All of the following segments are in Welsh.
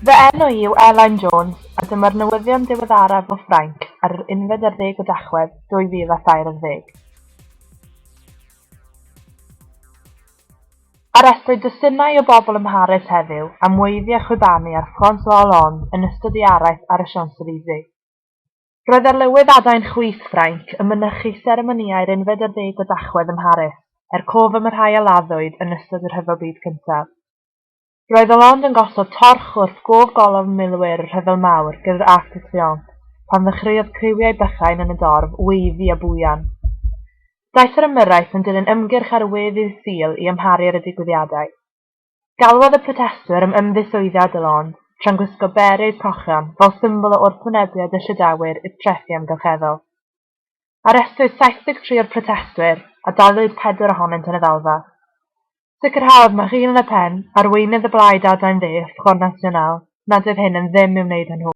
Fy enw i yw Elain Jones a dyma'r newyddion diweddaraf o Ffrainc ar yr unfed ar ddeg o Dachwedd 2023. Arestwyd dwsinau o bobl ym Mharis heddiw am weiddi a chwibanu ar François Hollande yn ystod ei araith ar y Champs-Elysées. Roedd arlywydd adain chwith Ffrainc yn mynychu seremonïau'r unfed ar ddeg o Dachwedd ym Mharis, er cof am y rhai a laddwyd yn ystod y Rhyfel Byd Cyntaf. Roedd o ond yn gosod torch wrth gof golofn milwyr y Rhyfel Mawr gyda'r Arc de Triomphe pan ddechreuodd criwiau bychain yn y dorf weiddi a bwyan. Daeth yr ymyrraeth yn dilyn ymgyrch ar we ddydd Sul i amharu ar y digwyddiadau. Galwodd y protestwyr am ymddiswyddiad de Lond, tra'n gwisgo berets cochion fel symbol o wrthwynebiad y Llydawwyr i'r trethi amgylcheddol. Arestwyd 73 o'r protestwyr a daliwyd pedwar ohonynt yn y ddalfa. Sicrhaodd Marine Le Pen, arweinydd y Blaid Adain Dde, Front National, nad oedd hyn yn ddim i'w wneud â nhw.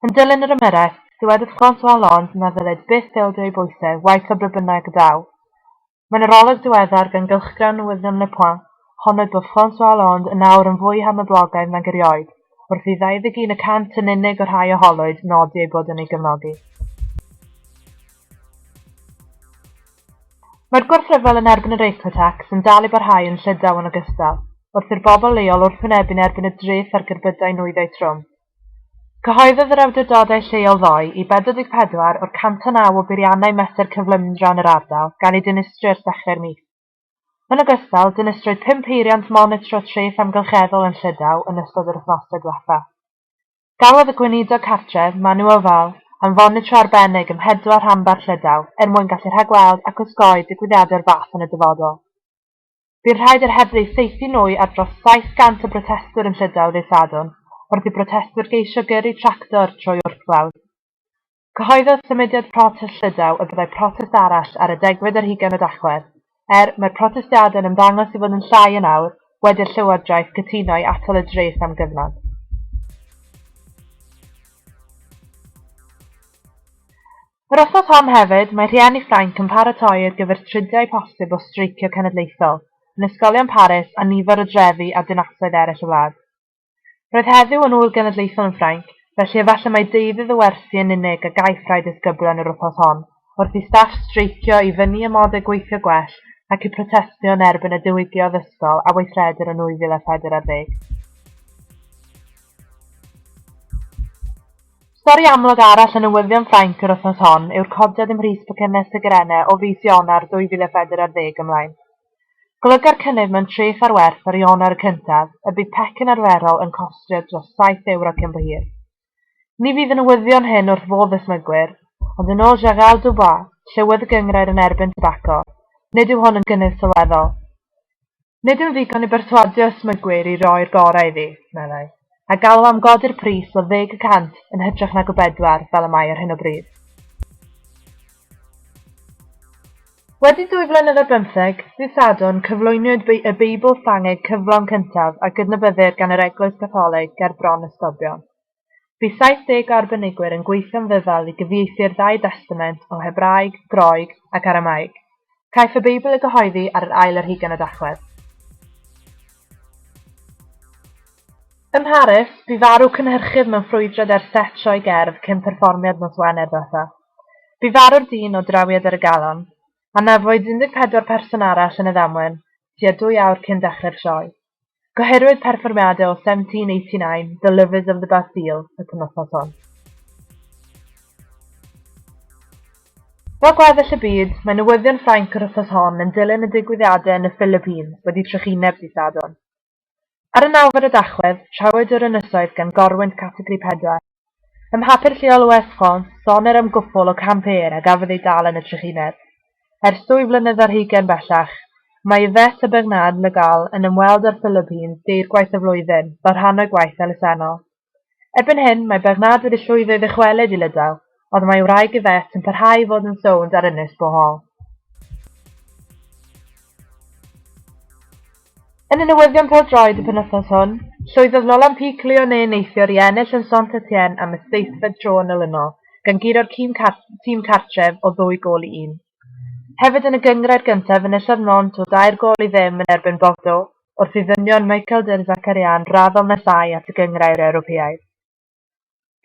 Yn dilyn yr ymyrraeth, dywedodd François Hollande na ddylid byth ildio i bwysau, waeth o be bynnag y daw. Mae'n arolwg diweddar gan gylchgrawn newyddion Le Point, honnwyd bod François Hollande yn awr yn fwy harnyblogaidd nag erioed, wrth i 21 y cant yn unig o'r rhai a holwyd nodi eu bod yn ei gefnogi. Mae'r gwrthryfel yn erbyn yr eco-tax yn dal i barhau yn Llydaw yn ogystal, wrth i'r bobl leol wrthwynebu'n erbyn y dreth ar gerbydau nwyddau trwm. Cyhoeddodd yr awdurdodau lleol ddoe i 44 o'r 109 o beiriannau mesur cyflymdra yn yr ardal gael eu dinistrio ers dechrau'r mis. Yn ogystal, dinistrwyd pum peiriant monitro treth amgylcheddol yn Llydaw yn ystod yr wythnosau diwethaf. Galwodd y Gweinidog Cartref, Manu Oval, am fonitro arbennig ym mhedwar rhanbarth Llydaw er mwyn gallu rhagweld ac osgoi digwyddiadau'r fath yn y dyfodol. Bu rhaid i'r heddlu saethu nwy ar dros 700 o brotestwyr yn Llydaw ddydd Sadwrn wrth i brotestwyr geisio gyrru tractor trwy wrthglawdd. Cyhoeddodd Symudiad Protest Llydaw y byddai protest arall ar y degfed ar hugain o Dachwedd. Er, mae'r protestiadau yn ymddangos i fod yn llai yn awr wedi i'r llywodraeth gytuno i atal y dres am gyfnod. Yr wythnos hon hefyd, mae rhieni Ffrainc yn paratoi ar gyfer tridiau posib o streicio cenedlaethol yn ysgolion Paris a nifer o drefi a dinasoedd eraill y wlad. Roedd heddiw yn ŵyl genedlaethol yn Ffrainc, felly efallai mai deuddydd y wersi yn unig a gaiff rai disgyblion yr wythnos hon, wrth i staff streicio i fynnu amodau gweithio gwell ac i protestio yn erbyn y diwygiodd ysgol a weithredir yn 2014. Stori amlwg arall y newyddion Ffrainc yr wythnos hon yw'r codiad ym mhris pecynne sigarene o fis Ionawr 2004 ar ddeg ymlaen. Golyga'r cynnydd mewn treth ar werth ar Ionawr y cyntaf y bydd pecyn arferol yn costio dros saith ewro cyn bo hir. Ni fydd y newyddion hyn wrth fodd y smygwyr, ond yn ôl Gerald Dubois, Llywydd y Gynghrair yn Erbyn Tybaco, nid yw hwn yn gynnydd sylweddol. Nid yw'n ddigon i berswadio ysmygwyr i roi'r gorau iddi, meddai, a galw am godi'r pris o ddeg y cant yn hytrach nag o bedwar fel y mae ar hyn o bryd. Wedi dwy flynedd ar bymtheg, ddydd Sadwrn, cyflwyniwyd y Beibl Ffrangeg cyflawn cyntaf a gydnabyddir gan yr Eglwys Gatholig ger bron a stobion. Bu 70 o arbenigwyr yn gweithio'n ddyfal i gyfieithu'r Ddau Destament o Hebraeg, Groeg ac Aramaeg. Caiff y Beibl ei gyhoeddi ar yr ail ar hugain o Dachwedd. Ym Mharis, bu farw cynhyrchydd mewn ffrwydrad ar set sioe gerdd cyn perfformiad nos Wener ddiwetha'. Bu farw'r dyn o drawiad ar y galon. Anafwyd 14 person arall yn y ddamwen, tua dwy awr cyn dechrau'r sioe. Gohirwyd perfformiadau o 1789, The Lovers of the Bastille, y penwythnos hon. Fel gweddill y byd, mae newyddion Ffrainc yr wythnos hon yn dilyn y digwyddiadau yn y Philippines wedi trychineb dydd Sadwrn. Ar y nawfed o Dachwedd, trafwyd yr ynysoedd gan gorwynt categori pedwar, Ym mhapur lleol o Air France, sonir am gwpwl o campëwyr a gafodd eu dal yn y trychineb. Ers dwy flynedd ar hugain bellach, mae Yvette a Bernard Le Gall yn ymweld â'r Philippines deirgwaith y flwyddyn, fel rhan o'u gwaith elusennol. Erbyn hyn, mae Bernard wedi llwyddo i ddychwelyd i Lydaw, ond mae ei wraig Yvette yn parhau i fod yn sownd ar ynys Bohol. Yn y newyddion pêl-droed y penwythnos hwn, llwyddodd Nolan Pic Lyonnais neithiwr i ennill yn Saint-Etienne am y seithfed tro yn olynol, gan guro'r tîm cartref o ddwy gôl i un. Hefyd yn y gynghrair gyntaf enillodd Nantes o dair gôl i ddim yn erbyn Bordeaux, wrth i ddynion Michael Derzakarian raddol nesáu at y gynghrair Ewropeaidd.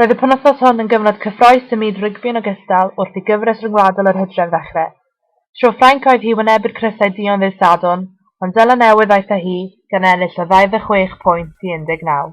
Roedd y penwythnos hwn yn gyfnod cyffrous ym myd rygbi yn ogystal wrth i gyfres ryngwladol yr hydref ddechrau. Tro Ffrainc oedd hi wynebu'r crysau duon ddydd Sadwrn, ond Seland Newydd ddaeth â hi, gan ennill o 26 pwynt i 19.